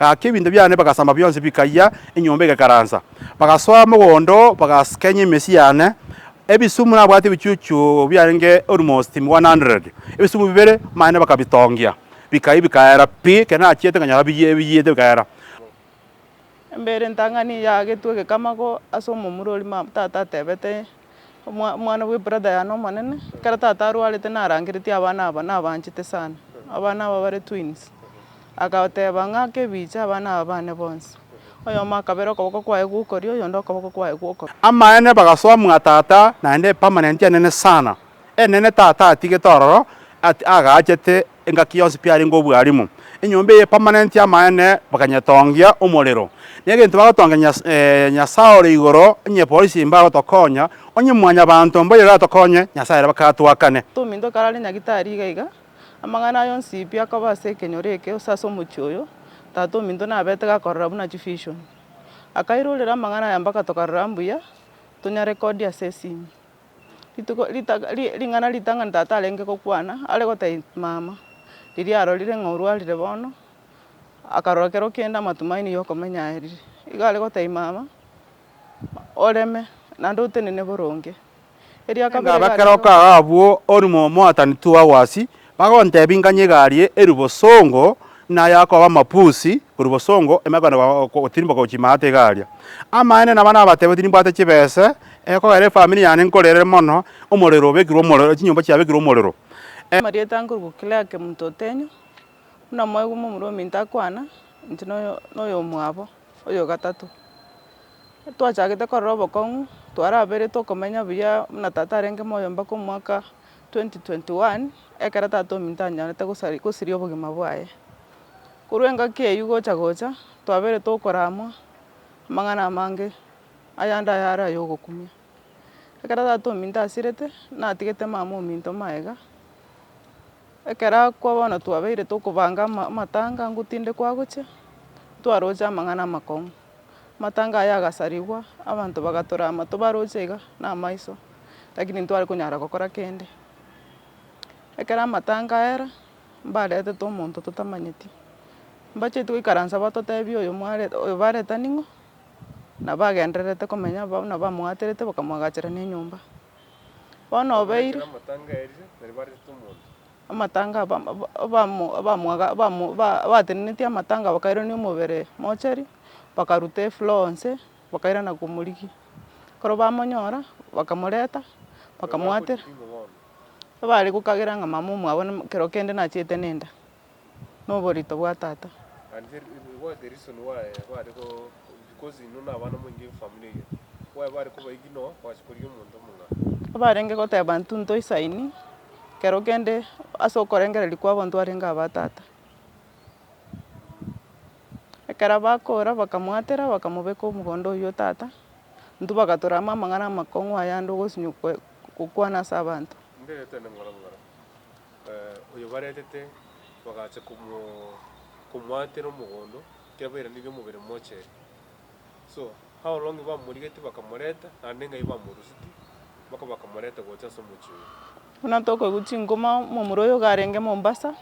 Gaki ebinto biane bagasamba bionsi bikayia, enyomba egakaransa. Bagasoa mogondo, bagaskenya emesi yane, ebisumu nabwate ebichuchu biarenge almost 100, ebisumu bibere mane bakabitongia, bikayia bikaera pi, ekero nachiete nkanyora biyie biyiete bikaera. Embere entang'ani yaagetwe egekama ko ase omomura oria tata atebete Omwa omwana bwe brother yane omonene, ekero tata arwarete narangeretie abana aba nabaanchete sana, abana aba bare twins, agateba ng'a kebiche abana aba bane bonsi, oyomo akabera okoboko kwaye gw'okorio, oyonde okoboko kwaye gw'okoboko. Amaene bagasoa mwa tata naende epermanent enene sana, enene tata atigete ororo at agaachete engaki yonsi pi arenge obwalimu. Enyomba eye epermanent y'amaene bakanyetongia omorero. Negento bagotongia Nyasae, Nyasae ore igoro, onye epolisi imbe agotokonya, onye mwanyabanto mboiyo oratokonye, Nyasae ere baka atwakane. Ominto karare nyagitari iga iga, amang'ana aye onsi pi akoba ase ekenyoro eke, ose ase omochie oyo, tata ominto nabete gakorora buna chivision. Akairorera amang'ana aya mpaka tokarora mbuya tonyarekodi ase esimi. Rituko ritaka ri ring'ana ritang'ani tata arenge gokwana, are gotebia mama, riria arorire ng'a orwarire bono, akarora kero kende amatumaini ya okomenya aye rire. Igo are gotebia mama, oreme, naende otenene boronge. Erio akabora Enga abekere okaga abwo, orimo omoatani twago asii, Bagontebi nganye igarie erio bosongo naye akoba amapusi koru bosongo emegwene gotirimboka gochia maate igaria. Amaene naba nabatebe tinimbwate chibese ekogera efamiri yane nkorere mono omorero obekirwe omorero chinyomba chiabekirwe omorero. Amarieta ankorwa Clearke monto otenyo, buna mwaigwa momura ominto akwana, inche noyomwabo oyogatato. Twachagete korora obokong'u twaraberetwe okomenya buya buna tata arenge moyo mbaka omwaka. 2021 Ekero tata ominto anyorete gosari gosiria obogima bwaye, korwa engaki eyio gocha gocha, twabeire tokoramwa amang'ana amange, ayande ayare ay'ogokumia. Ekero tata ominto asirete, natigete mama ominto magega, ekero akwa bono twabeire tokobanga ama- amatanga ngotindekwa agochia, ntwaroche amang'ana amakong'u. Amatanga aya agasarigwa, abanto bagatora amato baroche iga na amaiso, lakini ntitware konyara gokora kende. Ekero amatanga aera, mbaretete omonto totamanyeti, mbacheti goikaransa batotebia oyo mware oyo bareta ning'o, nabo agendererete komenya abwo abwo nabo amoaterete bakamwagachera na enyomba. Bono obeire. Amatanga aba- aba- abamo- abamwaga- abamo- ba- abatenenetie amatanga bakairania omobere mochari, bakaruta eflour onsi, bakairana komorigia. Ekero bamonyora, bakamoreta, bakamoatera, ebare gokagera ng'a mama omwabo namo kero kende nachiete nenda, na oborito bwa tata. Ebarenge goteba intwe ntoisaini. kero kende ase okorengereria kwa abanto arenge aba tata. Ekero bakora bakamwatera bakamobeka omogondo oyio o tata, intwe bagatorerama amang'ana amakong'u ayande ogosinywa kwe- gokwana ase abanto. oyobaretete bagacha komo- komwatera omogondo, ekiagera bairaneria omobere mocheri. Paulo ng'a bamorigetie bakamoreta, naende ng'ai bamorusetie, mpaka bakamoreta gocha ase omochie oye. Buna tokoigwa chingoma momura oyo garenge Mombasa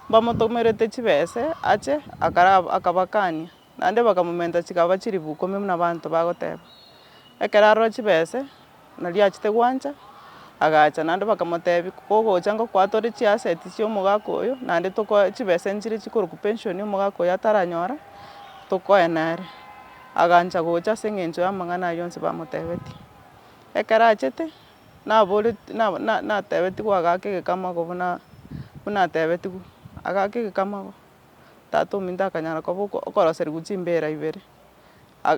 mbamotomerete chibese ache akabakania naende bakamomenta chigaba chilifu ikomi buna abanto bagoteba ekero arora chibese. Na riachete gwancha, agacha naende bakamotebi, Kogocha ngoko atore chiaseti chia omogaka oyo, naende tokoe chibesa inche chiria chikorokwa pension omogaka oyo ataranyora, tokoe nere. Agancha gocha ase eng'encho y'amang'ana ayio onsi bamotebetie. Ekero achete, naboretie na- na- natebetigwe agaaka egekama ogo buna buna atebetigwe, agaaka egekama ogo, tata ominto akanyara koba oko- okoroserigwa chimbera ibere.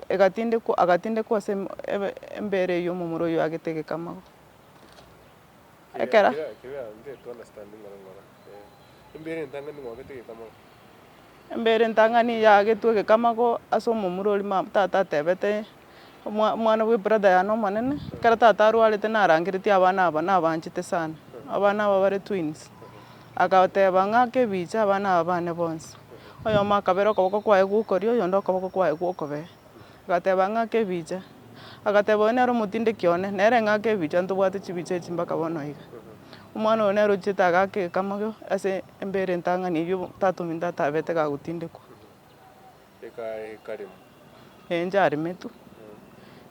Egatindekwa, agatindekwa ase embere y'omomura oyio agete egekamago. Ekero. Embere entang'ani yagetwe egekamago ase omomura oria ma tata atebete, omwa omwana bwe brother yane omonene, ekero tata arwarete narangeretie abana aba nabaanchete sana, abana aba bare twins. Agoteba ng'a, Kebiche abana aba bane bonsi, oyomo akabera okoboko kwaye gw'okorio, oyonde okoboko kwaye gw'okobee. Agateba ng'a, Kebiche. Agateba, Oyo nere omotindeki one, nere ng'a kebiche, ntobwate chibicha echi mpaka bono iga. Omwana oyo nere ochiete agaaka ekamagio ase embere entang'ani eyio tatomi ntatabete gagotindekwa. Ekaremu. Enjaremetu.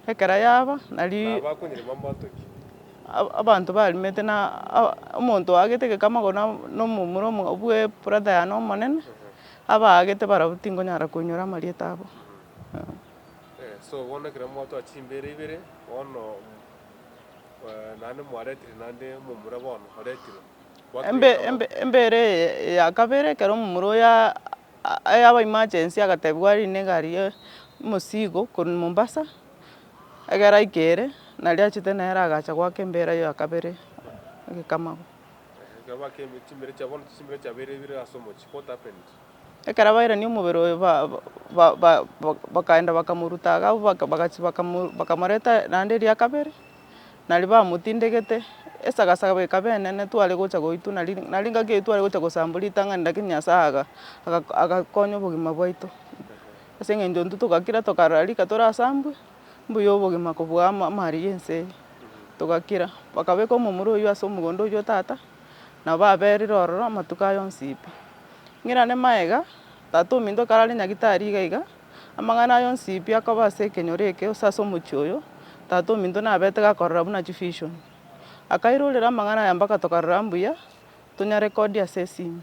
Ekera yaba, nari. Na abakonyerema mbantoki. Abanto baremete na omonto oagete egekama ogo na omomura omogabu bwe brother yane omonene, abaagete barabwo tingonyara koinyora amarieta abo. So bono ekero mwatoa chimbera ibere, bono naende mwaretire naende omomura bono oretirwe. Embe- embe- embere eye ya kabere ekero omomura oyo. aya aba emergency agatebiwa arinde egari ye omosigo korwa Mombasa, ekero aike ere, nario achete nere agacha goaka embera ya kabere egekamago. Ekero bairani omobere oye ba- ba- ba- bakaenda bakamoruta iga abwo baka- bagachi bakamoreta naende eria kabere. Nario bamotindegete, esagasaga bweka benene tware gocha goitwa, nari nari ngaki eyio tware gocha gosambwa ritang'ani, rakini Nyasaye aga aga- agakonya obogima bwaito. Ase eng'encho intwe togakira tokarora rika torasambwe, mbuya obogima kobua ama- amariga ense eye, togakira. Bakabeka omomura oyio ase omogondo oyio o tata, nabo baberire ororo amatuko aye onsi pi. Ng'irane magega, tata ominto kare are nyagitari iga iga. Amang'ana aya onsi pi akoba ase ekenyoro eke, gose ase omochie oyo, Tata ominto nabeete gakorora buna chifishoni. Akairorera amang'ana aya mpaka tokarora mbuya, tonyarekodi ase esimi.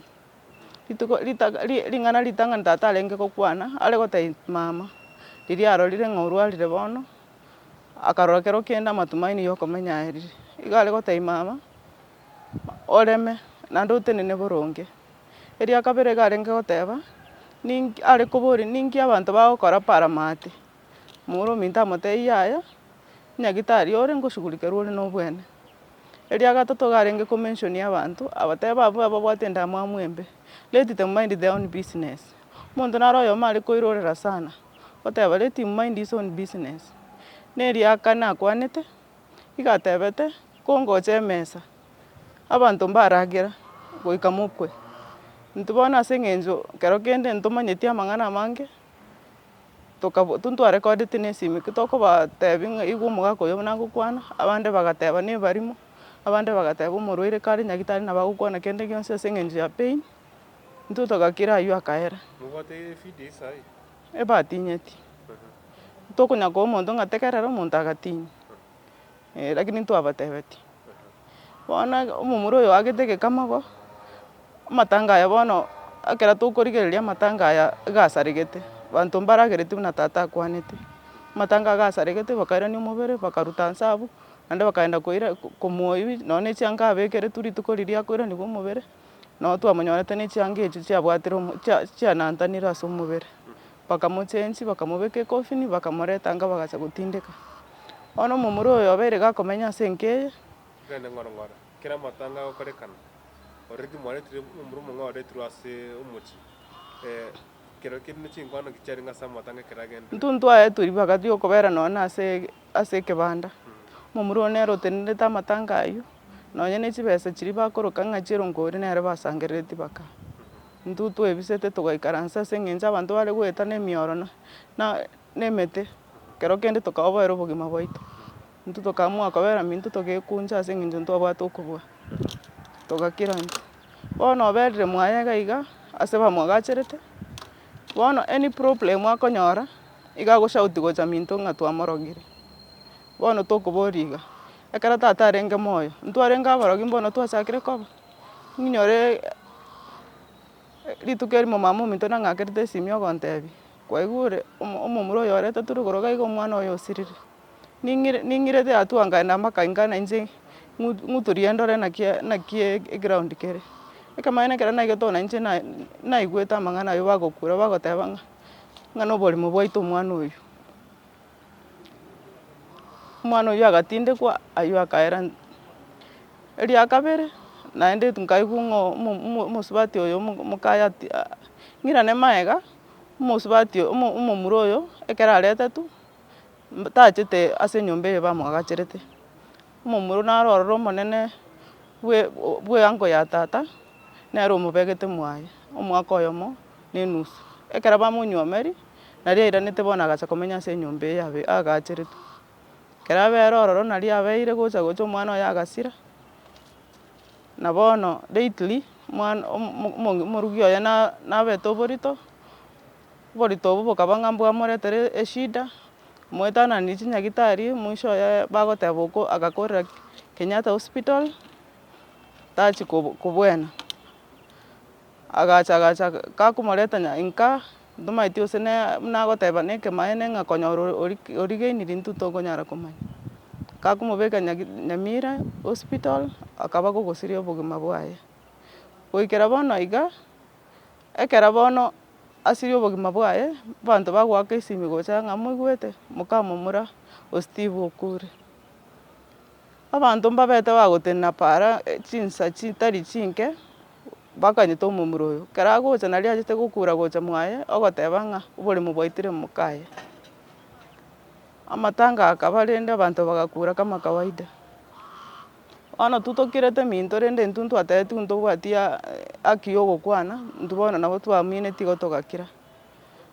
Rituko ritaga ri- ring'ana ritang'ani tata arenge gokwana, are gotebia mama, riria arorire ng'a orwarire bono, akarora kero kende amatumaini yokomenya aerire. Iga are gotebia mama. oreme, naende otenene boronge. Eria kabere iga arenge goteba, ninki are koboria ninki abanto bagokora paramati, moro ominto amotebie yaya, nyagitari ore ngoshugurikerwa ore nobwene. Eria gatato iga arenge ko mention abanto, abatebe abwo ababwate endamwamu embe, let them mind their own business. Omonto naro oyomo are koirorera sana, oteba let him mind his own business. Na eria kane akwanete. Nigo atebete, Kongocha emesa, abanto mbaragera goika mokwe. Intwe bono ase eng'encho kero kende ntomanyeti amang'ana amange, tokabo tonto a recordeti ne esimi, ki tokobatebi ng'a igo omogaka oyo buna agokwana, abande bagateba ne ebarimo, abande bagateba omorwaire kare nyagitari nabo agokwana kende gionsi ase eng'encho ya pain, intwe togakira aywo akaera. ebatinyeti, tokonya koa omonto ng'a tegerera omonto agatinya, eh lakini ntwabatebetie. Bono omomura oyo oagete egekama igo, amatanga aya bono, ekero tokorigereria amatanga aya iga asaregete, abanto mbaragereti buna tata akwanete, amatanga iga asaregete bakairania omobere, bakaruta inse abwo, naende bakaenda koira komoa ebi, nonya ne chianga abekeretwe rituko riria akoiraniwa omobere. Nabo twamonyorete ne chianga echio chiabwatire omo- chia- chianantanire ase omobere. Bakamochenchi, bakamobeka ekofini, bakamoreta inga bagacha gotindeka. Bono omomura oyo obeire iga akomenya ase enka eye. Tigani ng'ora ng'ora, kera amatanga agokorekana, ororeti mwaretirwe omomura omong'ao oretirwe ase omochie, ee, kerokende ne chinkwana ki chiarenge ase amatanga ekero agenda. Intwe ntwaetwe ribaga ri'okobera nonya ase. ase ekebanda, omomura oo nere otenenerete amatanga ayio, nonya ne chibesa chiria bakoroka ng'a chieronkoori nere basangereretie baka intwe twebisete togaikaransa ase eng'encho abanto bare goeta ne emiorono na ne emete ekero kende tokaboera obogima bwaito. Intwe tokaamua kobera minto togekuncha ase eng'encho ntwabwate okobua, togakira intwe. Bono oberire mwaye iga iga ase bamwagacherete. Bono any problem akonyora, iga agoshauti gocha minto ng'a twamorogire. Bono tokoboria iga, ekero tata arenge moyo, ntwarenge aborogi mbono twachakire koba? Ninyore rituko erimo mama ominto nang'akerete esimi ogontebia, kwaigure, omo- omomura oyo oreta tore koroga iga omwana oye osirire. ning'irete yatuangaine na amakainga na inche ng'utu riendore naki naki eground kere. Ekemanyeto ekero naigete oo na inche na- naigwete amang'ana ayio bagokura bagoteba ng'a ng'a na oborimo bwaito omwana oyio. Omwana oyio agatindekwa aywo akaera nse. Eria kabere, naende nkaigwa ng'a omo- omo- omosubati oyo omo- omokayi ati ng'irane magega, omosubati omo- omomura oyo ekero areteti. tachete ase enyomba eye bamoagacherete, omomura oyio naro ororo omonene bwe- bwe uncle ya tata, nere omobegete mwaye, omwaka oyomo na enusu, ekero bamonywomeri, naria airanete bono agacha komenya ase enyomba eye abe- aagacheretwe. Ekero abere ororo nario abeire gocha gocha omwana oye agasira, na bono lately, omwana- omo- omo- omorugi oye na- nabete oborito. Oborito obwo bokaba ng'a mbwamoretere eshida, moetananiri chinyagitari, mwisho oye bagoteba oko agakorera Kenyatta hospital, tachi kobu- kobuena, agacha agacha kakomoreta nya inka, ntomaeti gose ne buna agoteba na ekemaene ng'a konyora ori- ori- origeini rintwe tokonyara komanya. Kakomobeka nyagi nyamira hospital, akaba gogosiria obogima bwaye. Goikera bono iga. Ekero bono asirie obogima bwaye, abanto bagoaka esimi gocha ng'a moigwete mokamomura o Steve okure. Abanto mbabete bagotenena paara chinsa chitari chinke, bakanyete omomura oyo. Ekero agocha nari achete gokura gocha mwaye, ogoteba ng'a oboremu bwaitire mokaye. Amatanga akaba rende abanto bagakura kama kawaida. Bono intwe tokirete eminto rende intwe ntwatebetigwe intwe ntobwati haki ya ogokwana, intwe bono nabo twaminetie igo togakira.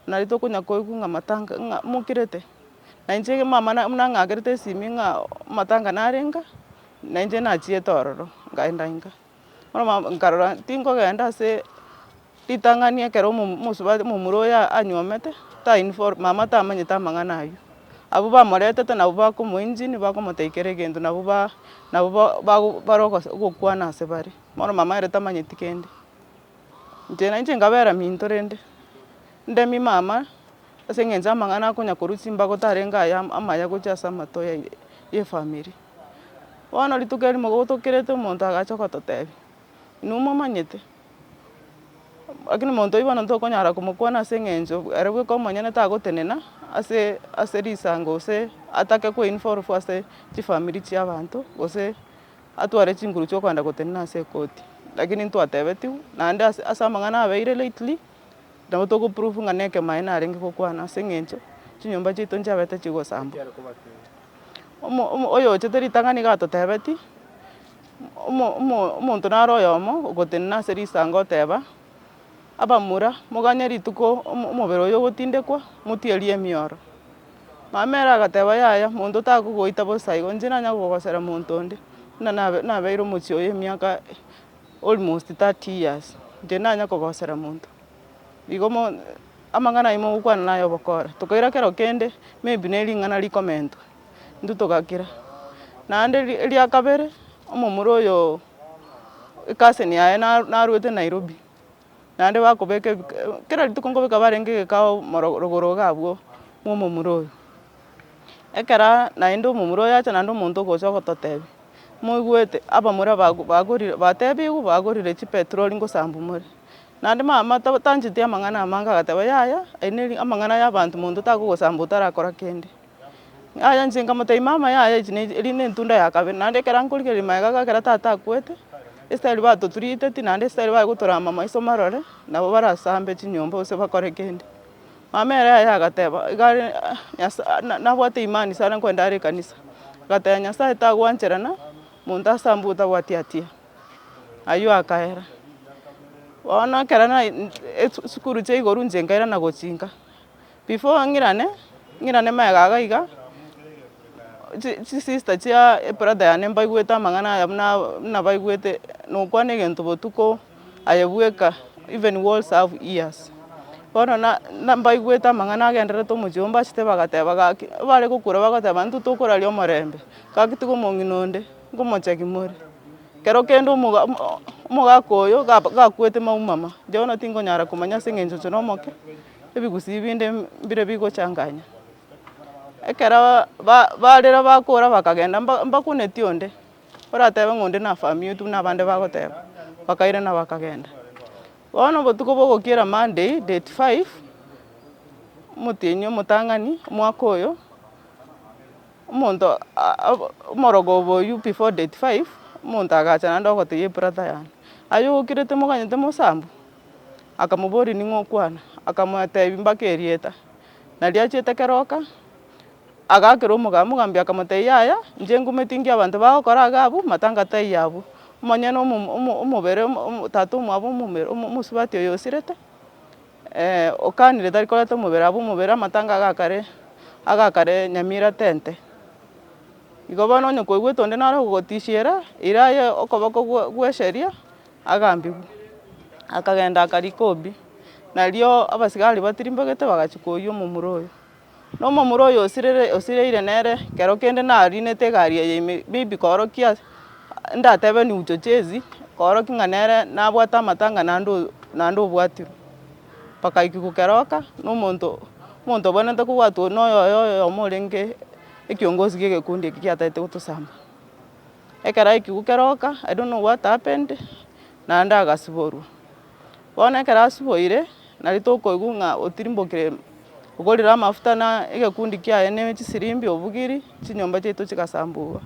Nari tokonya koigwa ng'a matanga ng'a mokirete, na inche mama na- nang'akerete esimi ng'a matanga narenge, na inche nachiete ororo, nkaenda inka. Bono mambia nkarora tinkogenda ase ritang'ani ekero omo- omosubati omomura oyo anyuomete, tainfor mama tamanyete amang'ana aywo. Abwo bamoretete nabwo bakomoengine bakomotebia kera egento nabwo ba- nabwo ba- bago bare ogosa ogokwana ase bare. Bono mama ere tamanyeti kende. Inche nainche nkabera minto rende, ndemie mama ase eng'encho ya amang'ana akonya korwa chimbago tarenge aya amaya gocha ase amato ya efamiri. Bono rituko erimo gotokerete omonto agacha ogototebia, inwe momanyete, lakini omonto oyio bono tokonyara komokwana ase eng'encho ere bweka omonyene tagotenena ase ase risango gose atake ko involve ase chifamiri chia abanto gose atware chinguru chiokogenda gotenena ase ekoti. Lakini ntwatebetigwe naende ase ase amang'ana abeire lately, nabo togo prove ng'a na ekemo aye narenge gokwana ase eng'encho chinyomba chiaito nchiabete chigosambwa. oyochete ritang'ani iga atotebeti, omo- omo- omonto naro oyomo ogotenena ase risango oteba, abamura moganye rituko omo- omobere oyo ogotindekwa motierie emioro. Omomere agateba yaya monto takogoita bosa igo, inche nanye kogosera monto onde, buna nabe- nabeire omochie oye emiaka almost thirty years, inche nanye kogosera monto. Igo mo, amang'ana ayio mogokwana naye obokora, tokaira kero kende, maybe ne ring'ana rikomentwa, intwe togakira. Naende ri- eria kabere, omomura oyooo ecousin yaye na- narwete nairobi, naende bakobeka ebik kera rituko nkobeka barenge egekao moro rogoro iga abwo mwa omomura oyo. Ekeraa naende omomura oyo acha naende omonto ogocha ogototebi, moigwete abamura bago bagorire batebiwe bagorire chipetroli ngosambu more. Naende mama tancheti amang'ana amange agateba yaya ayio amang'ana ya abanto monto takogosamba otarakora kende. Yaya inche nkamotebia mama yaya eri ne etunda ya kabere naende ekero ankorigereria magega iga ekero tata akwete, esitari bato turiteti naende esitari baye gotorama maiso marore nabo barasambe chinyomba gose bakore kende. Mama ere yaya agateba igare Nyasaye nabwate imani sana nkwende are ekanisa, agateba Nyasaye tagwancherana monto asambe otabwati hatia. Ayio akaera, bono ekero na esukuru chia igoro inche nkairana gochia inka, before ng'irane, ng'irane magega iga, chi- chi sister chia ebrother yane mbaigwete amang'ana aya buna buna baigwete nokwana egento botuko aye bweka even walls have ears, bono na- na mbaigwete amang'ana agendererete omochie oo mbachete bagateba gaki, ebare gokura bagoteba intwe tokoraria omorembe, gaki tiga omong'ina onde. Ngomochaki more. Kero kende omoga omogaka oyo ga gakuete maumama, Johana tingonyara komanya ase eng'encho inche nomoke, ebigusii binde mbire bigochanganya. Ekero ba barire bakora bakagenda mba mbakuneti onde, oratebe ng'a onde na family yetu buna abande bagoteba, bakairana bakagenda. Bono obotuko bwa ogokiera Monday, date five, omotienyi omotang'ani omwaka oyo. Omonto omoroka obo oyio before date five, omonto agacha naende ogotebia ebrother yane, aye ogokire temoganyete mosambu? Akamoboria ning'o okwana? Akamotebia mbaka erieta. Nario achiete keroka, agakera omogaka, omogambi akamotebia yaya, inche ngometingia abanto bagokora iga abwo, matanga taiyo abwo. Omonyene omo- omo- omobere omo- omo- tata omwabo omobere omosubati oyo osirete. Ee, okanire tari koreta omobere, abwo omobere amatanga agakare, agakare Nyamira tente. Igo bono onye kwaigwete onde naro ogotisiera, ere aye okoboko gwe- gw'eseria agambigwe, akagenda akarika obi. Nario abasigari batirimboigete bagachia koiyia omomura oye. na omomura oyo osirire osireire nere kero kende nariinete egari eye ime maybe koorokia ndatebe new chochezi koorokia ng'a nere nabwate amatanga naende o naende obwatirwe. Mpaka aike gokeroka na omonto omonto obwenerete kobwatwa oyio na oyoyo oyomo orenge ekiongozi gie egekundi eke giatagete gotosamba. Ekero aike gokeroka I don't know what happened naende agasiborwa. Bono ekero asiboire, nari tokoigwa ng'a otirimbokire okorire amafuta na egekundi kiaye na chisirimbi obugiri, chinyomba chiaito chigasambugwa.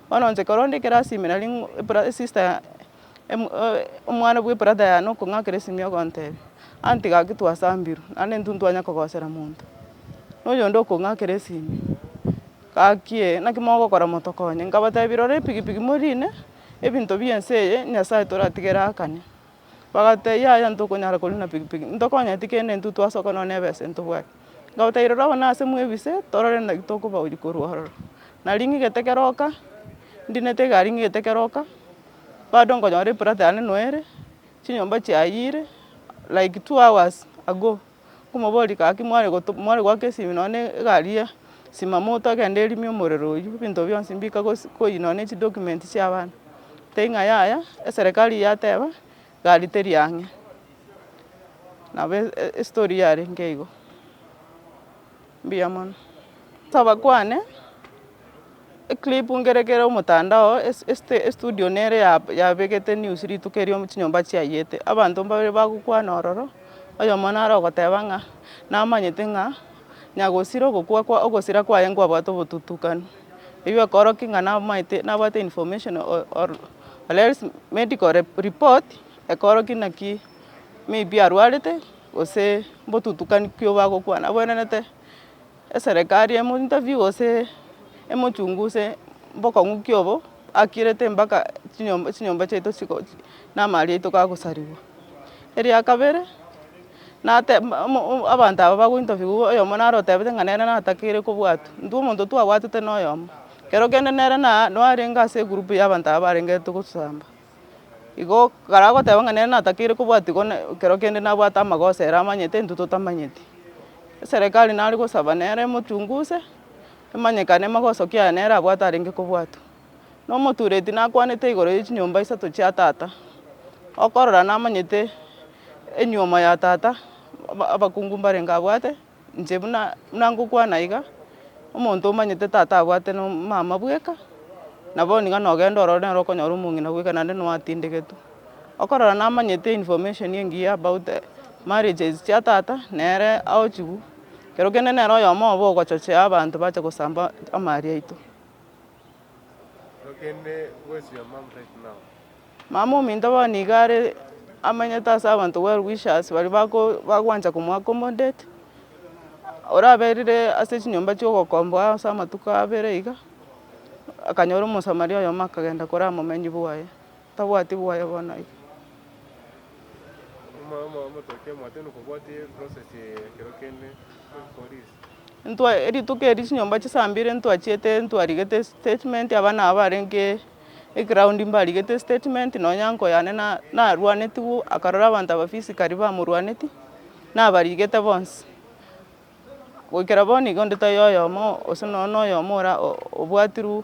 Bono inche ekero onde ekero asiimire nari ng'o ebra sister ya- em- e- omwana bwa ebrather yane okong'akera esimia ogontebia, onye tiga ki twasambirwe, naende intwe ntitwanya kogosera monto, na oyonde okong'akera esimia, gaki ee, naki mogokora motokonye? Nkabatebia rora epikipiki morine, ebinto bie ense eye, Nyasaye toratigere akane. Bagatebia, Yaya, ntokonyara korwa na pikipiki, ntokonyeti kende intwe twasoka nonya nebesa ntobwate. Nkabatebi, Rora abana ase mwebise, torore naki tokobaonia korwa ororo. Nari ng'igete keroka, ndinete egari ng'igete keroka, bado nkonyora eplot yane noere, chinyomba chiayire, like two hours ago. Nkomoboria gaki mware goto mware goaka esimi nonye na egari ya simamo togende erimo omorero oywo, ebinto bionsi mbika gose koyi nonye ne chidocument chia abana, tari ng'a yaya, eserekari yateba egari teri ang'e, nabo e- e- estori yarenge igo. Mbuya mono. Tobakwane eclip ngerekere omotandao estudio nere yabegete news rituko erio chinyomba chiayete abanto mbabere bagokwana ororo oyomo nare ogoteba ng'a namanyete ng'a nyagosira ogokwa kwa ogosira kwaye nkwabwate obotutukanu. Eyio ekorokia ng'a namaete nabwate information or or else medical report ekorokia naki maybe arwarete. gose mbotutukani ki obagokwana abwenerete eserekari emo interview gose emochunguse mbokong'u ki obo akirete mpaka chinyomba chinyomba chiaito chigo na amaari aito kagosarigwa. Eria kabere, nate abanto aba bago interview wa oyomo naro otebete ng'a nere natakeire kobwatwa, intwe omonto twabwatete na oyomo, ekero kende nere na- narenge ase egroup ya abanto aba barenge togosamba. Igo karagoteba ng'a nere natakeire kobwatigwa ne ekero kende nabwate amagoso ere amanyete intwe totamanyeti. Eserekari nare gosaba nere emochunguse, emanyekane magoso ki aya nere abwate arenge kobwatwa. Na omotureti nakwanete igoro ya chinyomba isato chia tata, okorora namanyete enyuomo ya tata, aba- abakungu mbarenge abwate. Inche buna ngokwana iga, omonto omanyete tata abwate na omama bweka, na bono iga nogenda ororo nere okonyora omong'ina bweka naende nigo atindegetwe. Okorora namanyete information engiya about marriages chia tata, nere aochigwa, ekero kende nere oyomo obo ogochochea abanto bache gosamba amaria aito. Mama ominto bono iga are amanyete ase abanto well wishers baria bagwancha komo accommodate, oraberire ase chinyomba chia ogokomboa ase amatuko abere iga, akanyora omosamaria oyomo akagenda kore aa momemi bwaye. tabwati bwaye bono iga. Intwa rituko erio chinyomba chia saa mbili ntwachiete ntwarigete estatement abana aba barenge eground mbarigete estatement nonye nyanko yane narwanetigwe akarora abanto aba physically bamorwaneti nabarigete bonsi goikera bono iga onde taiyo oyomo gose nonye noyomo obwatirwe.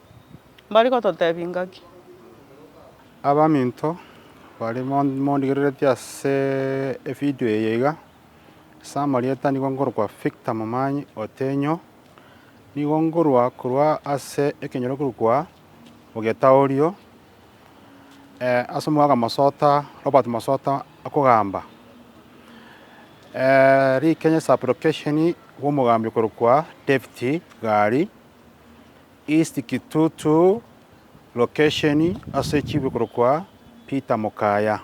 Mbare gototebia ingaki? Abaminto bare mondigereretie ase evideo eye iga, ase amarieta nigo nkorokwa Victor Momanyi Otenyo, nigo nkorwa korwa ase ekenyoro ekekorokwa Ogetaorio ase omogaka Mosota Robert Mosota akogamba Rikenya sub location bwa omogambi okorokwa David Gari. East Kitutu location ase chibwe korokwa Peter Mukaya.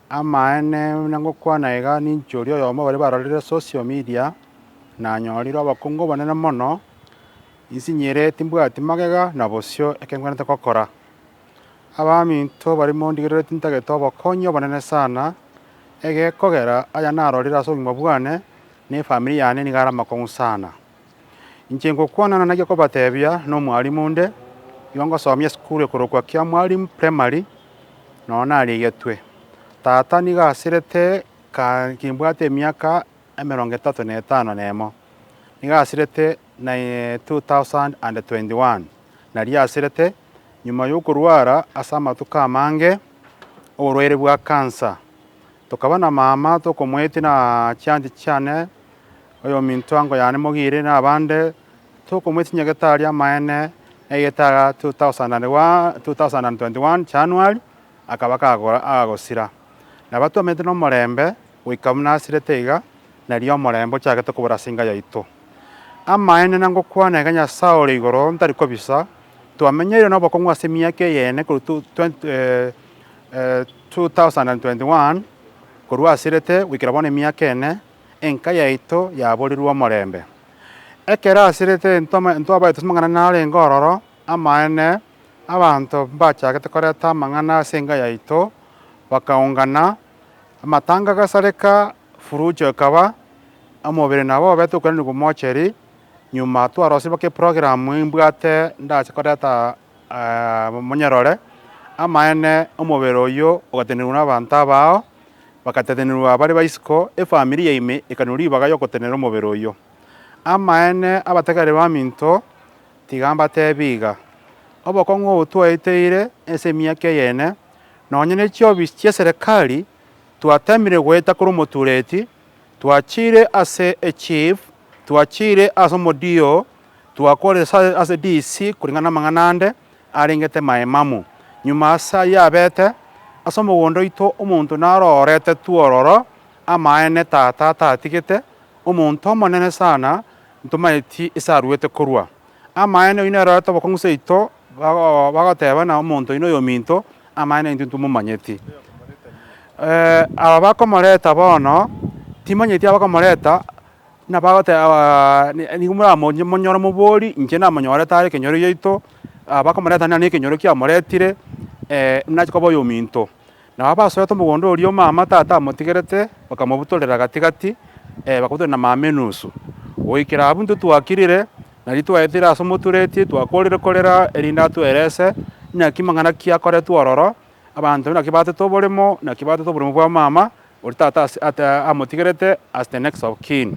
Amaene buna ngokwana iga ninche oria oyomo baria barorire social media nanyorire obokungu obonene mono insinyire timbwati magega na bosio ekengwenerete gokora. Abaminto baria mondigerere tintagete obokonyi obonene sana egekogera aya narorire ase obogima bwane na efamiri yane nigo are amakong'u sana. Inche ngokwana nonya gekobatebia nomwalimu onde igo ngosomia esukuru ekorokwa Kiamwalimu Primary nonya narigetwe. Tata nigo asirete kaa kimbwate emiaka emerongo etato na etano na emo. Nigo asirete na two thousand and twenty one. Nari asirete nyuma yokorwara ase amatuko amange oborwaire bwa cancer. Tokaba na mama tokomoetia na chianchi chiane, oyominto ango yane mogire, na abande tokomoetia chinyagete aria amaene, na egetara 2021 January akaba agagosira. Nabo twamenyete nomorembe goika buna asirete iga, na erio omorembe ochagete kobora ase enga yaito. Amaene na ngokwana iga Nyasae ore igoro ntari kobisa, twamenyeire nobokong'u ase emiaka eyene korwa 2020. 2021 Korwa asirete goikera bono emiaka ene, enka yaito yaborirwe omorembe. Ekero asirete ntwabaete ase amang'ana narenge ororo, amaene, abanto mbachagete koreta amang'ana ase enka yaito, bakaungana, amatanga agasareka, furujo ekaba, omobere nabo obete okwenenigwa mocheri. Nyuma twarosirie mpaka eprogramu imbwate ndache koreta Monyerore, amaene omobere oyio ogatenenigwa nabaanto abao, bagatenenigwa bare baisiko, efamiri yaime ekanwa ribaga y'ogotenenera omobere oyio. Amaene, abategereri baminto tiga mbateebie iga, Obokong'u obo twaeteire ense emiaka eyene, nonya ne chiofisi chi'eserekari, twateemire goeta korwa omotuureti, twachiire ase echief, Twachiire ase omodiyo, twakoresa ase Disi koreng'ana namang'ana ande arengete maemamu. Nyuma ase ayio abete ase omogondo oito omonto narorete twororo amaene tata atatigete, omonto omonene sana ntomaeti ase aruete korwa. Amaene oino erorete obokong'u seito bagotebana omonto oino oyominto amaene intwe ntomomanyeti. Aba bakomoreta bono timanyeti abakomoreta. Buna bagoteba, Nigo moramonyore omobori, inche namonyorete are ekenyoro giaito, bakomoreta nere nekenyoro kiamoretire, nachi koba oyominto. Nabo abasorete omogondo oria omama tata amotigerete, bakamobutorera gati gati, bakabutorera na mama enusu. Goikera abwo intwe twakirire, nari twaetire ase omotureti, twakorire korera erinde atwerese naki mang'ana ki akoretwe ororo, Abanto naki baatete oboremo, naki baatete oboremo bwa omama, oria tata ase amotigerete as the next of kin.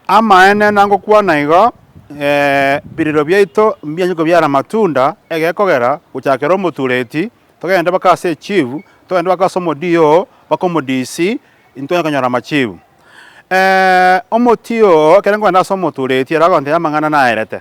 Amaene nangokwana igo, ebiririro biaito mbianye kobiara amatunda, egekogera, gochakera omotureti, togende mpaka ase echifu, togende mpaka ase omoDO, mpaka omoDC, intwe konyora amachifu. Omotii oo ekero nkogenda ase omotureti, ere agontebia amang'ana naerete.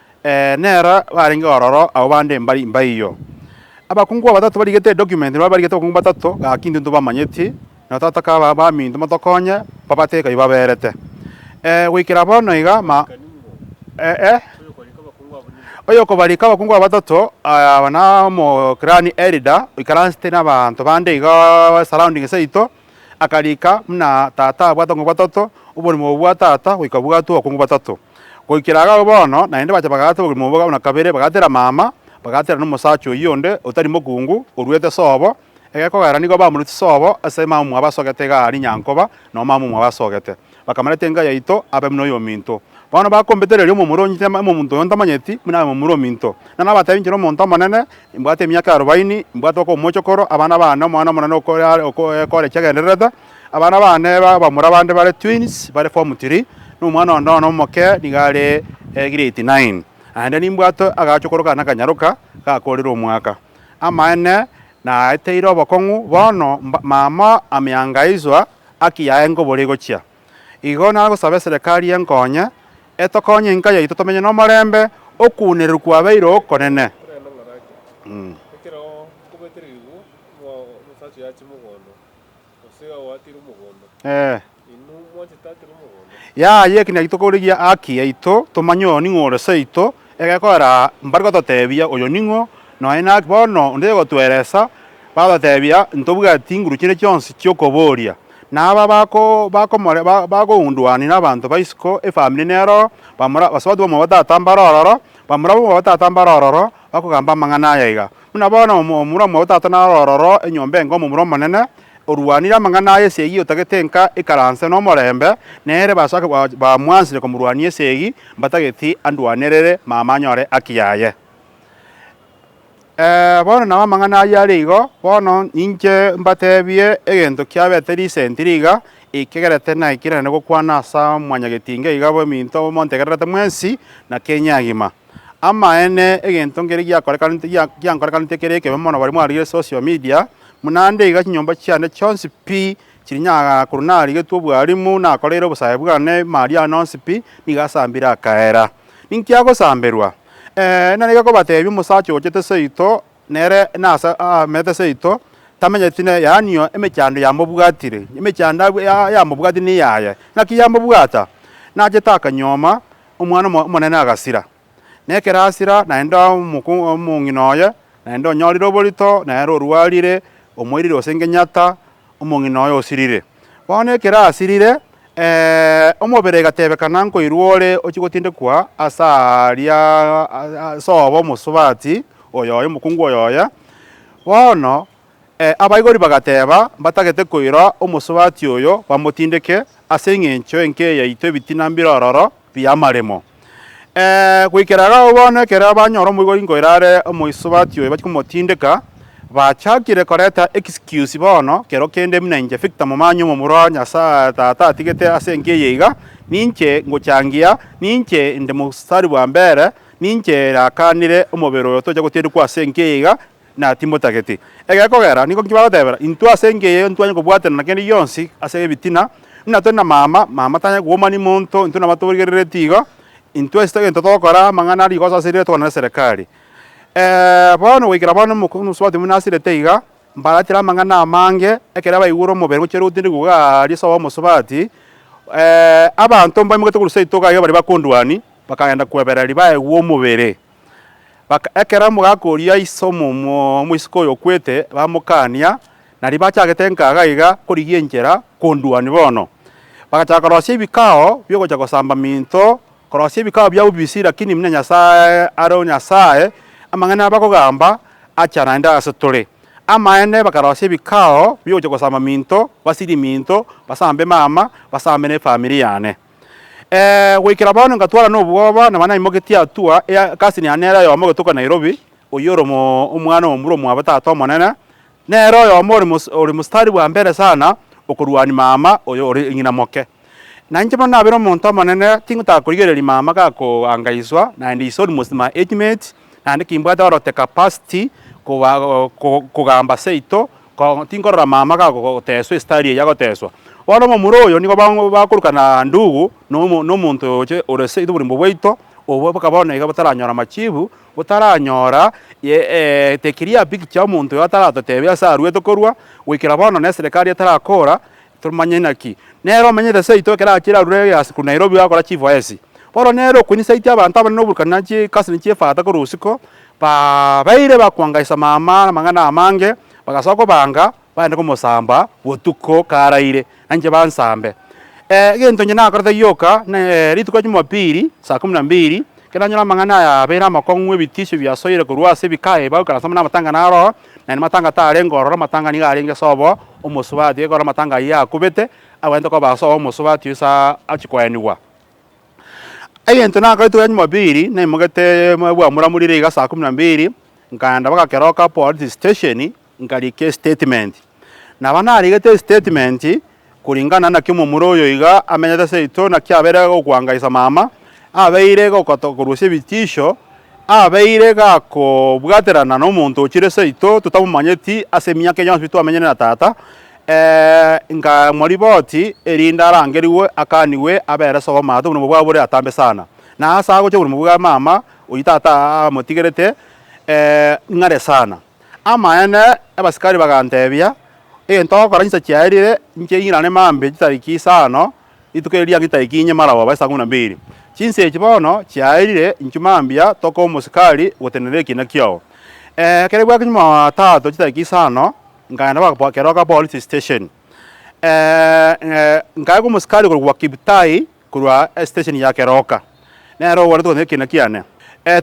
Ee, nera barenge ororo abwo bande mbari mbaiyo. Abakungu abatato barigete edocument nabwo barigete abakungu batato, gaki intwe ntobamanyeti, na tata kaba baminto motokonye babate ekaiyo baberete. Ee, goikera bono iga ma, eh, eh, oyokobarika abakungu aba batato, aya aba na omo clan elder oikaransete nabaanto bande iga surrounding saito, Akariika buna Tata abwate obokong'u bwatato, oborimo obwo bwa Tata goika bwatwe obokong'u bwatato. Goikera agao bono, naende bacha bagaata oborimo obwo buna kabere bagaatera mama, bagaatera nomosacha oyio onde otari mokungu, oruete sobo, egekogera nigo bamoruti sobo ase mama omwabo asogete iga aria nyankoba nao mama omwabo asogete. Bakamanya etenga yaito abe buna oyominto. Bono bakombete rirorio omomura onyite ime omonto oyo ntamanyeti, buna abe momura ominto. Na nabateebie inche nomonto omonene, imbwate emiaka arobaini, imbwate okomocha okoro abana baane omwana omonene okore chiagendererete, abana baane b'abamura bande bare twins, bare form three, na omwana onde one omoke nigo are grade nine. Naende nimbwate agaachokoro kane akanyaroka, gakoorire omwaka. Amaene, naeteire obokong'u bono mama ameangaizwa aki yaye nkobore igochia. Igo nagosaba eserekari enkonye, etokonye enka yaito tomenye nomorembe, okuunereru kwabeire okonene. Ee. Yaya eki naki tokorigia haki yaito, tomanye oyo ning'o ore seito, egekorera mbare gototebia, Oyo ning'o, nonya naki bono onde tayogotweresa, bagototebia, Ntobwati nguru chinde chionsi chi'okoboria. Na aba bakounduania nabanto ba isiko, efamiri nero, bamura, basubati bamua batata mbare ororo, bamura bamua batata mbare ororo, bakogamba amang'ana aya iga, Buna bono omura omwabo tata naro ororo enyomba enga omomura omonene, orwanire amang'ana aye esegi otagete enka ikaranse nomorembe, nere basake bamwansire komorwania esegi mbatageti andwanerere mama anyore haki yaye. Ee, bono nao amang'ana ayio are igo, bono ninche mbatebie egento kiabete risenti riga, ekegerete naikire naende gokwana asa mwanyagetinga iga bw'eminto montegererete mwensi na Kenya agima. Amaene, egento nkere giakorekanete, gia, giankorekanete kere ekebe mono baria mwarigire social media, buna nde iga chinyomba chiane chionsi pi chiri nyagaka korwa narigetwe obwalimu, nakoreire obosae bwane, mali ane onsi pi, nigo asambire akaera. Ninki agosamberwa? Ee, narenge kobatebia omosacha ochete seito, nere nase aamete seito, tamenyeti ne, yaani o, emechando yamobwatire, emechando abw, ya, yamobwati neyaye. Naki yamobwata? Nachete akanyoma. Omwana omo omonene agasira, na ekero asira, naende omoko omong'ina oye naende onyorire oborito, na ere orwarire, omoirire gose ngenyata omong'ina oye osirire. Bono ekero asirire, eeh, omobere egatebekana nkoirwa ore ochia gotindekwa ase aaria ase obo omosubati oyoyo, omokungu oyoyo, bono Abaibori bagateeba, Mbatagete koira omosubati oyo bamotindeke, ase engencho enkee yaito ebitina mbire ororo bi'amaremo. Goikera agao bono, ekero banyora omoibori nkoira are omoisubati oyo bachia komotindeka, bachakire koreta excuse bono kero kende buna inche Victor Momanyi omomura o Nyasaye Tata atigete ase enka eye iga, ninche ngochangia, ninche inde mostari bwa mbere, ninche nakanire omobere oyo tocha gotindekwa ase enka eye iga, na timotageti egekogera, nigo inki bagotebera intwe ase engencho eyio ntitwanyare kobwatanana kende gionsi ase ebitina? Buna tore na mama, mama tanyare kogomani monto, intwe nabatoborigerereti igo, intwe ase egento togokora amang'ana a rigoso ase rire togana neserekari. Bono goikera bono omokong'u nobosuba ote buna asirete iga, mbaratire amang'ana amange, ekero abaigure omobere gochia rogutindi rogwo aaria ase obomosubati, abanto mbaimoketie korwa seito iga iga baria bakondwania, bakagenda kwebera ribaegwa omobere. Baka ekero mogakoria iso omoiseke oyo okwete, bamokania, na ribachagete nkaga iga korigia enchera konduani bono. Bagachaka korosia ebikao biogocha gosamba minto, korosia ebikao bia obisi, lakini buna Nyasae are o Nyasae, amang'ana abakogamba achana naende ase tore. Amaene bakarosia ebikao biogocha gosamba minto, basirie minto, basambe mama, basambe ne efamiri yane. Eeh goikera bono ngatwara nobwoba naba naimogetie hatua ya cousin yane nere oyomo ogetoka Nairobi oyio ore omo omwana omobura omwabo tata omonene nere oyomo ore mos ore mstari bwa mbere sana okorwania mama oyo ore ng'ina moke. Na inche bono nabere omonto omonene tingotaka korigereria mama gakoangaiswa naende is almost my age mate naende kimbwate orote capacity koba kogamba seito tinkorora mama gagoteswa estari eye agoteswa bono omomura oyo nigo bakorokana ndugu nomo nomonto oyoche ore seito oborembe bwaito obwo mpaka bono iga botaranyora machibu botaranyora the clear picture omonto oyo ataratotebia ase arwete korwa goikera bono na eserekari etarakora Toromanye naki nere omenyete seito ekero achire arure egasi korwa Nairobi gakora chifoesi. Bono nere okonyisaetie abanto abanene oborikori na chikasi na chiefata korwa usiku, babeire bakwangaisa mama namang'ana amange, bagasoa kobanga baende komosamba botuko karaire, nainche bansambe. Egento inche nakorete gioka, ne rituko ria Jumapili saa kumi na mbili Kera onyore amang'ana aya abeire amakong'u, ebitisio biasoire korwa ase ebikae ebagu karansa buna amatang'ana a roho, naende matanga tarenge ororo, amatanga nigo arenge sobo omosubati, ekero amatanga ayio akubete, agwenerete koba sobo omosubati oyo sa achia koenigwa. Egento nakorete oria Jumapili, naimogetee bwamuramurire iga saa kumi na mbiri, nkaenda baka keroka polisi stesheni, Nkarika estatement. Naba narigete estatement koringana naki omomura oyo iga amenyete seito naki abeire gokoangaisa mama, abeire gokoto korusia ebitisho, abeire gakobwaterana nomonto ochire seito totamomanyeti ase emiaka eye yonsi twamenyire na tata, eeh nkamoriboti erinde arangerigwe akanigwe abere sobo omate oborimo bwabo bore atambe sana. Na ase agocha oborimo bwa mama oyio tata amotigerete eeh ng'are sana. Amaene, abasikari baganteebia, Egento togokora chinsa chiaerire inche ing'irane mambe chitariki isano, rituko erio riang'e chitariki inye maragoba aba esaa ikomi na mbiri. Chinsa echi bono chiaerire inchwe mambia toka omosikari gotenenera ekiina kiao. Ekero bwakinyire Mwamatato chitariki isano, nkaenda mpaka Keroka Police Station. Nkaegwa omosikari korokwa Kiptai korwa esitesheni ya Keroka, nere ogwanete gotenena ekiina kiane.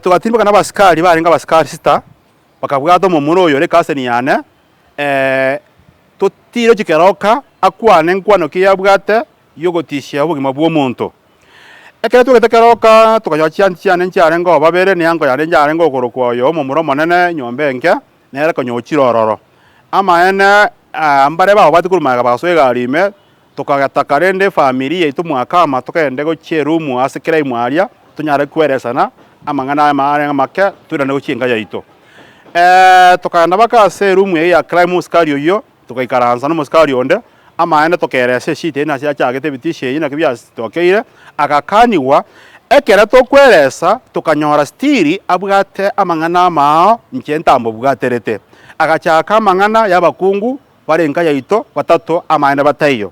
Togatirimboka nabasikari barenge abasikari sita, bakabwata omomura oyo ore kaseni yane, ee, totiire chikeroka akwane nkwano ki yabwate y'ogotishia obogima bw'omonto. Ekero twegete keroka tokanyoora chiansi chiane nchiarengeo babere, neango yane yarenge okorokwa oyo omomura omonene nyomba enke, nere konya ochire ororo. Amaene, aa, mbare babwati korwa magega bagasoa egari ime, Tokagetaka rende efamiri yaito mwakama togende gochia erumu ase kera imwe aria tonyare kweresana amang'ana aya arenge make toirane gochia enka yaito. Eeh tokagenda mpaka ase erumu eyio ya Clymo omosikari oyio togaikaransa nomosikari onde amaene tokeresa eshida eyio nase yachagete ebitisho eyio naki biasitokeire agakanigwa ekero tokweresa tokanyora still abwate amang'ana amao inche ntamobwaterete. Agachaka amang'ana yabakungu bare enka yaito batato amaene bataiyo.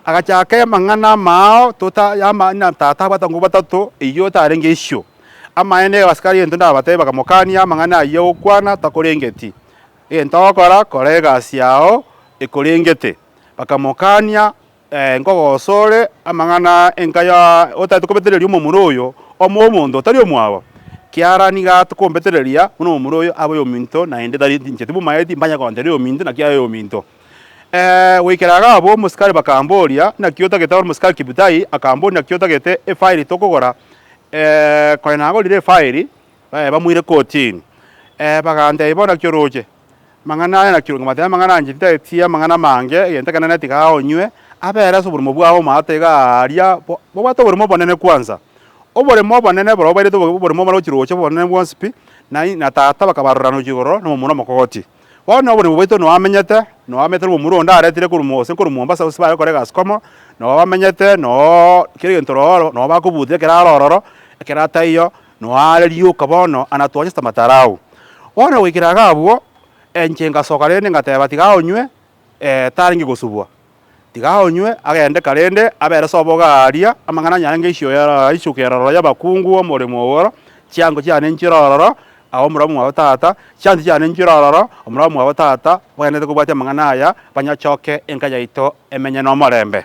Agacha ake mang'ana amao tota y'ama ng'a tata abwate abakong'u batato eyio otarenge isio. Amaene egebaso karia gento ndabatebie bakamokania amang'ana ayio gokwana takorengeti. Egento ogokora kora egasi yao ekorengete. Bakamokania. Nkogosoore amang'ana enka ya otaete kobetereria omomura oyo omobe omonto otari omwabo, kiara nigo aate kombetereria, buna omomura oyo abe oyominto, naende tari inchete bw'omoeedi mbanye kontera oyominto, naki aye oyominto. Goikera iga abwo omosikari bakamboria, Naki otagete ore omosikari Kibutai? Akamboria, Naki otagete efairi tokogora? Kore nagorire efairi, bamoire kotini. Bagantebia, Bono naki oroche? Amang'ana aya nakio nkabatebia amang'ana anche titaetie amang'ana amange, egento ekero nane tigaa onywe, abere ase oborimo bwao omwao tigaa aria, bo bobwate oborimo obonene kwanza. Oborimo obonene barobwo bairete obo oborimo obonene gochia roche obonene bwonsi pi, nain na tata bakabarora gochia igoro na omomura omokogoti. Bono na oborimo bwaito noo amenyete, noo amenyete na omomura onde aretire korwa mo gose korwa Mombasa gose bare gokora egasi komo, noo bamenyete, nooo kera egento roro, noo bakobuta ekero are ororo, ekero ataiyo, Noare rioka bono, ana twachete amatara ao. Bono goikera iga abwo, enche ngasoka rende ngateba, Tiga aonywe, ee, tarenge gosubwa. Tiga aonywe, agende karende, abere sobo iga aaria, amang'ana anyare ngeisio eroro, isuka eroro y'abakungu, omoremo oo ororo, chiango chiane nchire ororo, ao omorabwo mwabo tata, chiansi chiane nchire ororo, omorabwo mwabo tata, bagenderete kobwatia amang'ana aya, banyachoke enka yaito emenye nomorembe.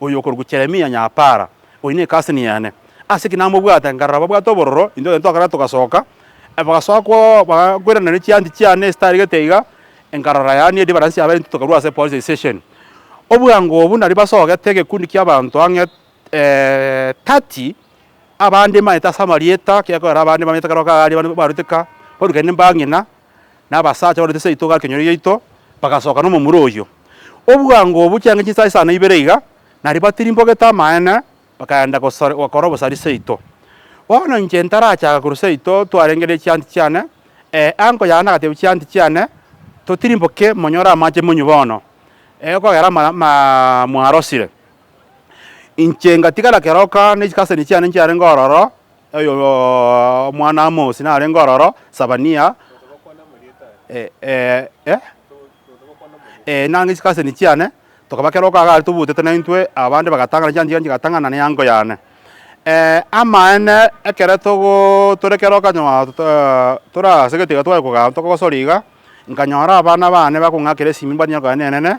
Oyo okorokwa Jeremia Nyapara, oyio ne kasini yane. Ase ki namobwate? Nkarora babwate obororo, intwe twaino twakare togasoka, bagasoka kwao bagakweranania chianti chiane esitaregete iga, nkarora yaani edibaransi yabere intwe tokarua ase police station. Obwango obwo nari basogete egekundi kiabanto ang'e thirty, abande manyete ase amarieta, gekorera abande bamanyete kare goka aria barwete ka, barurekane ne mbang'ina. na abasacha barwete ase rituko akenyoro giaito, bagasoka nomomura oyio. Obwango obwo chianga chinsa isano na ibere iga, na riba tirimbogete amaene, bakaenda gosar gokora obosari seito. Bono inche ntarachaka korwa seito twarenge ne chianti chiane, ee, anko yane agatebia chianti chiane, Totirimboke, monyore amache monywe bono, ee, okogera amara ama mwarosire. Inche ngatigara keroka ne chikaseni chiane nchiarenge ororo, Omwana Amosi narenge ororo, Sebania, nang'e isiko aseni chiane, tokaba kera okoaga aria tobutete na intwe, abande bagatang'ana chianchigani chigatang'ana na eango yane. Amaene, ekero togo tore kera okonyora tore ase egetiga tware kogaa tokogosoria iga, nkanyora abana bane bakong'akera esimba nigo kare nenene.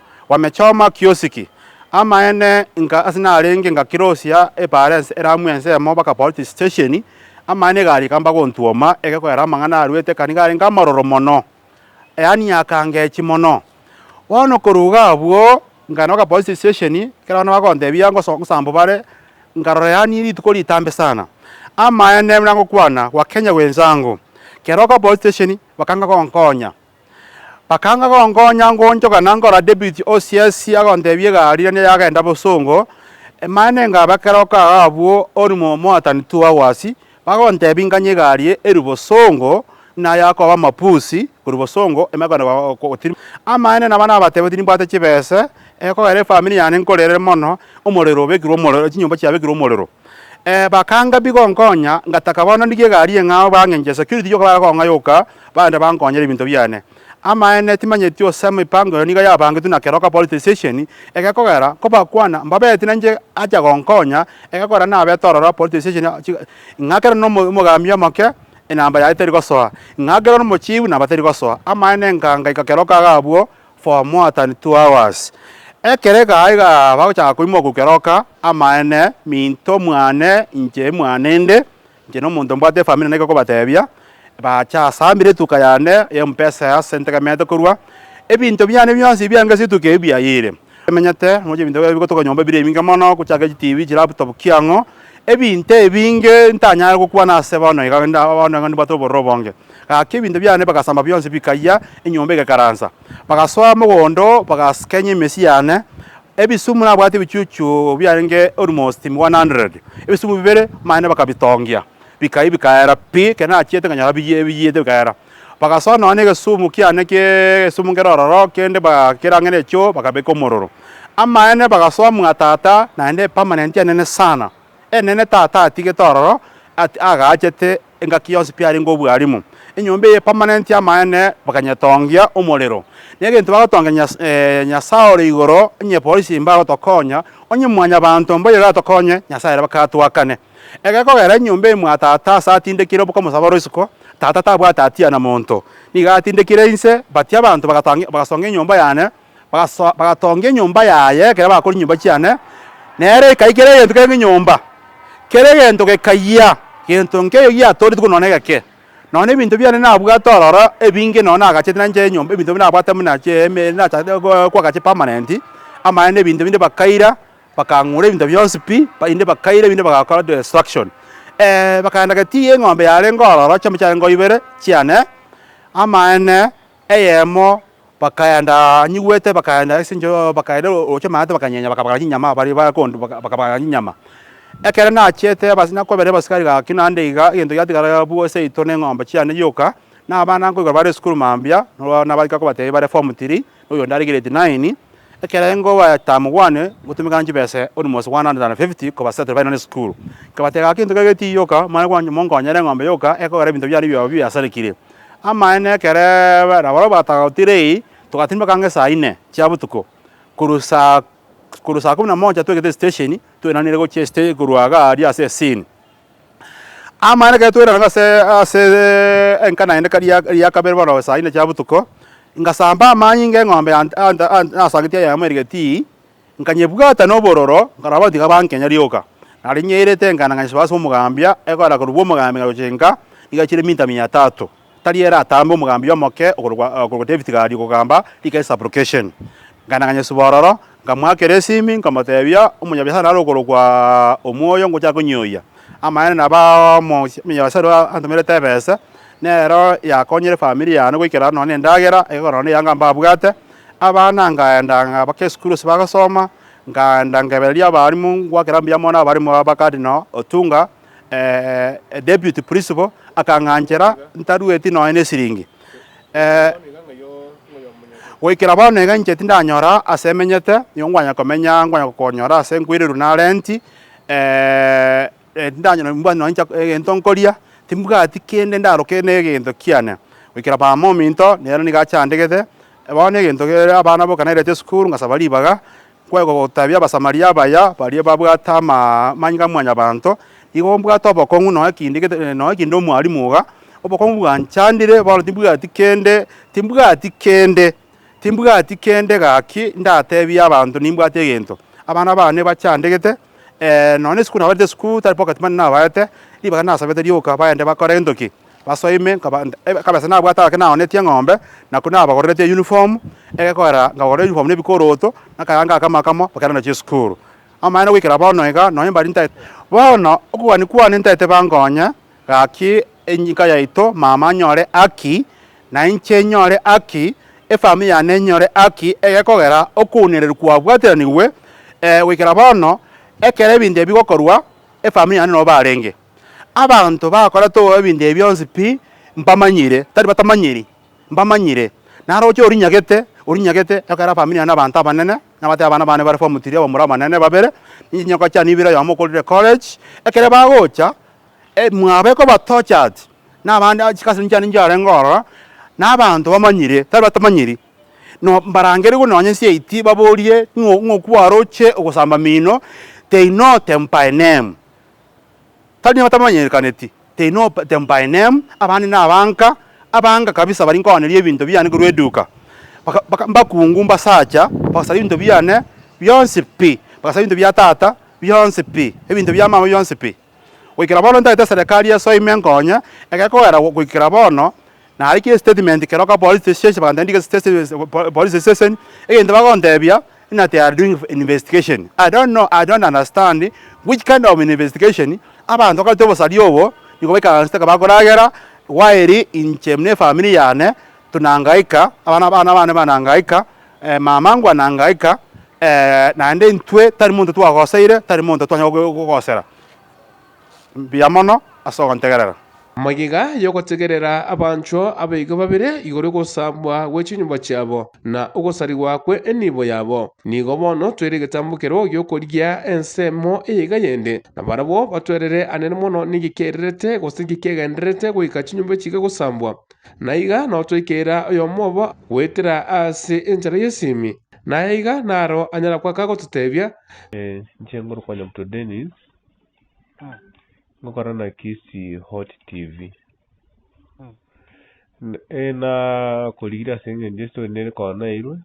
bw'amechoma kiosiki. Amaene inka ase narenge ngakirosia eparense eramu ensemo baka politi stesheni, amaene iga arika mbagontuoma egekoera amang'ana arwete kani garenge amaroro mono, yaani akangechi mono. Bono korwa iga abwo nkagenda baka politi stesheni, ekero abana bagontebia ngoso ngosambo bare, nkarora yaani rituko ritambe sana. Amaene buna ngokwana gwa Kenya gwensangu, kera baka politi stesheni bakanga gonkonya. Bakanga gonkonya ngonchoka na nkora debit o CS agontebia egari rende yagenda bosongo, Emaene nkabe kera okaga abwo ori moatani two hours, bagontebia nkanye egari erwe bosongo na yakoba mapusi korwa bosongo ime kogenda gotirimwa. Amaene naba nabatebia timbwate chibese, ekogera efamiri yane nkorere mono, omorero obekirwe omorero chinyomba chiabekirwe omorero. Bakanga pi gonkonya ngataka bono ndigie egari eng'ao bang'enche esecurity yoka baria kong'ayoka. Baria bankonyera ebinto biane. Amaene timanyeti ose emipango eye nigo yabangetwe na keroka polisi stesheni egekogera kobakwana mbabeti nainche acha gonkonya egekogera nabete ororo polisi stesheni ng'a kero nomo omogambi omoke enamba yaye teri gosoa ng'a kero nomochifu namba teri gosoa amaene nkangaika keroka iga abwo for more than two hours ekero egaa iga bagochaka koimoku keroka amaene minto mwane inche mwane inde. Inche nomonto mbwate efamiri naende gekobatebia, Baacha asambire etuka yane y'empesa ase ntegemeete korwa, ebinto biane bionsi ebiange ase etuka eyio biayire. Emenyete, moche ebinto biaye bigotoka nyomba bire ebinge mono, gochaka chitibi, chilaptop chia ang'o, ebinto ebinge ntanyare gokwana ase bono iga rende bono iga nibwate obororo obonge. Gaki ebinto biane bagasamba bionsi bikayia, enyomba egekaransa. Bagasoa mogondo, bagaskenya emesi yane. Ebisumu nabwate ebichuchu biarenge orimo 100, ebisumu bibere mane bakabitongia, bikayia bikaera pi, ekero nachiete nkanyora biyie biyete bikaera. Bagasoa nonya egesumu kiane ki'egesumu kere ororo kende bagakera ang'e nechoo bakabeka omororo. Amaene bagasoa mwa tata naende epermanent enene sana. E'nene Tata atigete ororo at agachete engaki yonsi pi arenge obwalimu. Enyomba eye permanent y'amaene bakanyetongia omorero. Negento bagotongia Nyas eh, Nyasae ore igoro onye polisi mbe agotokonya, onye mwanyabanto mbe oyeratokonye, Nyasae ere baka atwakane. Ege kogera enyomba eye mwa Tata ase atindekire oboka omosabare oisiko, Tata tabwate hatia na monto. Nigo atindekire inse, but abanto bagatongia bagasonga enyomba yane, bagasoa, bagatongia enyomba yaye ekero bakora chinyomba chiane, nere ekayia kera egento kere ngenyomba, kera egento gekayia gento nkeiyo giatooreti korwa nonya egeke. Nonya ebinto biane nabwate ororo ebinge nonya nagachete nanye chinyomba ebinto binde nabwate buna chiaemeeri nachakete gooo koaka chipermanent, amaene na ebinto binde bakaira, bakang'ura ebinto bionsi pi, bende bakaira ebinde bagakora destruction. bakaenda gati eng'ombe yarenge ororo, chinyomba chiarenge o ibere chiane, amaene. Eyemo bakaenda anyigwete bakaenda ase enchera bakaenda oroche amaate bakanyenya bakabagara chinyama baria bakondu bakabagara chinyama. Ekero nachete bas nakobera abasikari gaki naende iga egento giatigara abwo ase yaito na eng'ombe chiane gioka na abana nkoigwa bare esukuru mambia nabo nabagaika kobatebi bare form three na oyonde are grade nine ekerengo bae term one gotumekana chibese almost one hundred and fifty koba settle baino nesukuru. Nkabatebia gaki egento kegio tigioka mare monko mokonyere eng'ombe yoka ekogera ebinto biane bioka biasarekire Amaene ekereebe, nabarabwo batagotire eyi, togatindimeka ang'e saa ine chia botuko. Korwa saa korwa saa kumi na moja twegete esitesheni, twairaneire gochia esite korwa iga aria ase esini. Amaene ekero twairana ase ase enka naende ka ria ria kabere bono saa ine chia botuko, ngasamba amanyinga eng'ombe yane anta anta nasagetie eyemo erigetii. Nkanyebwata nobororo, nkarora abatiga bankenya rioka, nare nyeirete enkanda ngachesibora ase omogambia, egoera korokwa omogambia ngayocha enka, nigo yachire minta mia etato, tari ere atambe omogambia omoke okorokwa David Gadi ogokamba rika esabrokeshen. Nkagenda nganyesibora ororo, nkamoakera esimi, nkamotebia, Omonyabiasara nare okorokwa Omoyo ngocha konyioyia. Amaene nabo aa omonyabiasara oyo antomerete ebese, Nero yakonyire efamiri yane goikera nonya nendagera eke korwa neyanga mbabwate. Abana ngaenda ngabaka esukuru ase bagosoma, ngaenda ngebereria abarimu ngwakera mbuya mono abarimu aba Cardinal Otunga, Deputy Principal, akang'anchera ntarueti nonya nesiringi. Goikera bono iga inche tindanyora ase emenyete nigo nkwanya komenya nkwanya gokonyora ase nkweirerwa na rent. Tintanyora mbwate nonya inche egento nkoria, timbwati kende ndaroke negento kiane, goikera mama ominto nere nigo achandegete. Bono egento kere abana boka nairete esukuru ngasaba ribaga, nkoe gotabia Abasamaria abaya baria babwate amanyinga a Mwanyabaanto, igo mbwate obokong'u nonya kende gete nonya kende omwalimu iga, obokong'u bwanchandire bono timbwati kende, timbwati kende Timbwati kende gaki ndateebie abanto nimbwate egento. Abana baane bachandegete, ee, nonya isiko nabarete isiko, tari pocket money nabaete, ribaga nasabete rioka baende bakore gento ki? Basoe ime, nkaba akabesa nabwate gake naoonetie eng'ombe, na ko nabagoreretie eyunifomu, egekoerera nkabagorera eyunifomu na ebikoroto, na akayanga ake amo akamo bagenda nachio esukuru. Amaene goikera bono iga, nonya mbari ntaete. Bono, okogania kwane ntaete bankonye, Gaki enyika yaito, mama anyore haki, na inche nyore haki, efamiri yane enyore haki, egekogera okounireria kwabwatiranigwe goikera bono, ekero ebinto ebi bigokorwa, efamiri yane nobo barenge. Abanto bakorete obobe ebinto ebi bionsi pi, mbamanyire, tari batamanyiri, mbamanyire. Naro oche orinyagete, orinyagete, ekogera efamiri yane abanto abanene, nabatebe abana bane bare form three abamura abanene babere, ninche nyoka chiane ibere oyomo okorire college, ekero bagocha. Mwabo ekobatocha ati, Nabande achika ase chinchanda inche arenge ororo, na abanto bamanyire, tari batamanyiri, no mbarangerigwe nonye nsiaiti baborie ng'o ng'oku baroche ogosamba mino, they know them by name. Tari nigo batamanyerekaneti, they know them by name, abande nabanka, abanka kabisa bari nkoaneria ebinto biane korwa eduka, baka baka mbakungu mbasacha, bagasara ebinto biane bionsi pi, bagasara ebinto bia tata bionsi pi, ebinto bia mama bionsi pi. Goikera bono ntagete eserekari esoe ime nkonye, ekero kogera goikera bono nare ki estatement kero ka police station bagantebia ndike station police station egento bagontebia ng'a they are doing investigation I don't know I don't understand which kind of investigation abanto bakareta obosari obo nigo baikaranseteke bakoragera while inche buna efamiri yane tunangaika abana abana bane banangaika. Mama ngwa na ngaika, naende intwe tari monto twagoseire, tari monto twanyare gogosera. Mbuya mono ase ogontegerera. Magega y'ogotegerera abanchwa aba iga babere igoro y'ogosaabwa gwe chinyomba chiabo, na ogosarigwa kwe enibo yabo. Nigo bono toire egetambokero gi'okorigia ensemo eye iga yende, na barabwo batwerere anene mono ning'iki ererete, gose ng'iki egendererete goika chinyomba echi iga gosaambwa. Na iga notoikeira oyomo obo goetera ase enchera y'esimi, na aye iga naro anyara goaka gototebia. Inche nkorokwa Nyabuto Dennis, ngokora na Kisii Hot TV. Nakorigire ase eng'encho estory nere koa nairwe,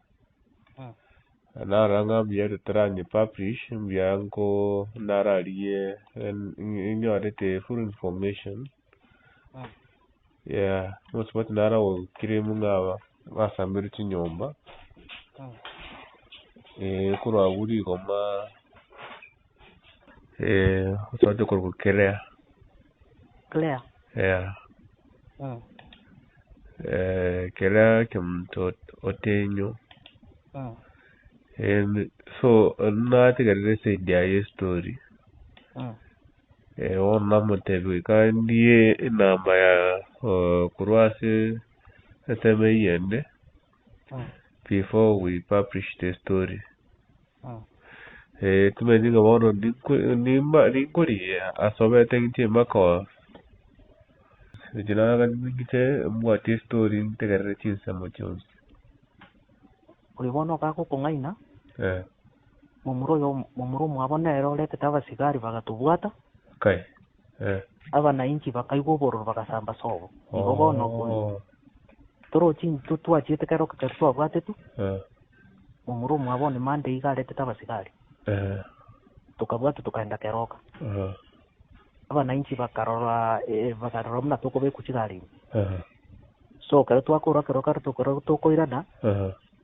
narora ng'a mbuya totaranye publish, mbuya nko nararigie nyorete full information. Omosubati naro agoclaim ng'a basamberwe chinyomba, korwa agwo rigoma omosubati okorokwa clear, clear kemtu otenyo, so nategerera eside yaye y'estori. Bono namotebirie, Kandie enamba yao korwa ase ensemo eyende before we publish the story. Timanyeti ng'a bono ninkorie asobete ng'inche emakoro. Echi nagachiria ng'inche mbwatie estory ntegerere chinsemo chionsi. Oyo bono ogakokong'aina. momura oyo momura omwabo nere oretete abasigari bagatobwata, Kai. Eh. abanainchi bakaigwa obororo bagasamba ase obo. Igo bono okwo Oh. toro chin to twachiete kera okechori twabwatetwe, Eh. momura omwabo one mande iga aretete abasigari, Eh. tokabwatwa tokaenda keroka. Eh. Abanainchi bakarora eh, bakarora buna tokobekwa chigarimi. Eh. So ekero twakoorwa keroka tokorwa tokoirana, Eh.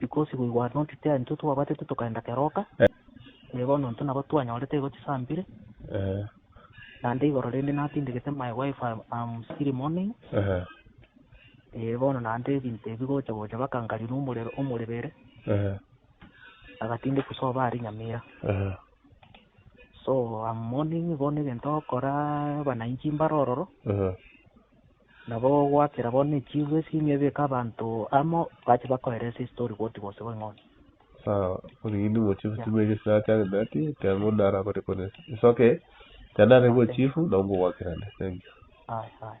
Because we were not there intwe twabwatete tokaenda keroka, tari bono intwe nabo twanyorete igo chisambire, naende igoro rende natindegete my wife I am still mourning, ee, bono naende ebinto ebi gocha gocha baka nkari nomorero omorebere, agatindekwa soba aria Nyamira, so am mourning bono egento ogokora abanainchi mbare ororo, Nabo goakera bo ne chiiru esiimi ebieka abanto amo bache bakoera ase estori goti gose going'oria. Sawa, origini ng'o chifu timbe erio sinachangete ati ekeango naro akore kore ase. It's okay. Ekero narenge o chifu, nabo ngogoakerane. Thank you. Aye, aye.